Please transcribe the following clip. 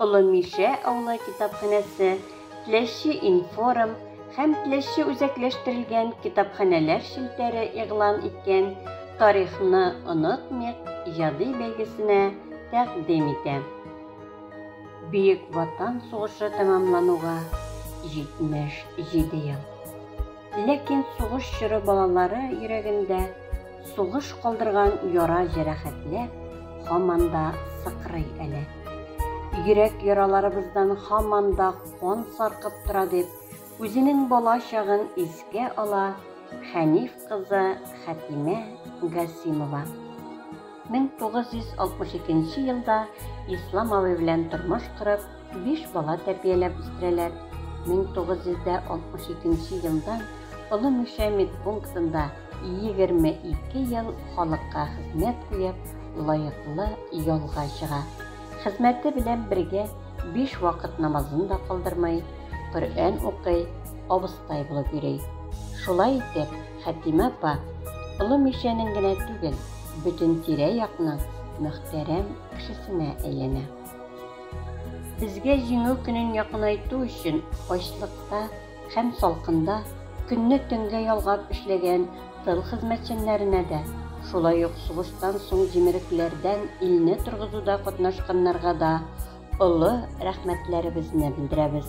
Олы Мишә авылы китапханәсе, Теләче информ һәм Теләче үзәкләштерелгән китапханәләр челтәре игълан иткән Тарихны онытмыйк иҗади бәйгесенә тәкъдим итә. Бөек Ватан сугышы тәмамлануга 77 ел. Ләкин сугыш чоры балалары йөрәгендә сугыш калдырган яра җәрәхәтләр һаман да сыкрый әле. Йөрәк яраларыбыздан һаман да кан саркып тора дип, үзенең бала чагын искә ала Хәниф кызы Хәтимә Гасимова. 1962 елда Ислам абый белән тормыш корып, Биш бала тәрбияләп үстерәләр. 1962 нче елдан Олы Мишә медпунктында егерме ике ел халыкка хезмәт куеп, лаеклы ялга чыга. Хезмәте белән бергә биш вакыт намазын да калдырмый, Коръән укый, абыстай булып йөри. Шулай итеп, Хәтимә апа Олы Мишәнең генә түгел, бөтен тирә-якның мөхтәрәм кешесенә әйләнә. Безгә Җиңү көнен якынайту өчен ачлыкта һәм салкында көнне төнгә ялгап эшләгән тыл хезмәтчәннәренә дә, шулай ук сугыштан соң җимерекләрдән илне торгызуда катнашканнарга да олы рәхмәтләребезне белдерәбез.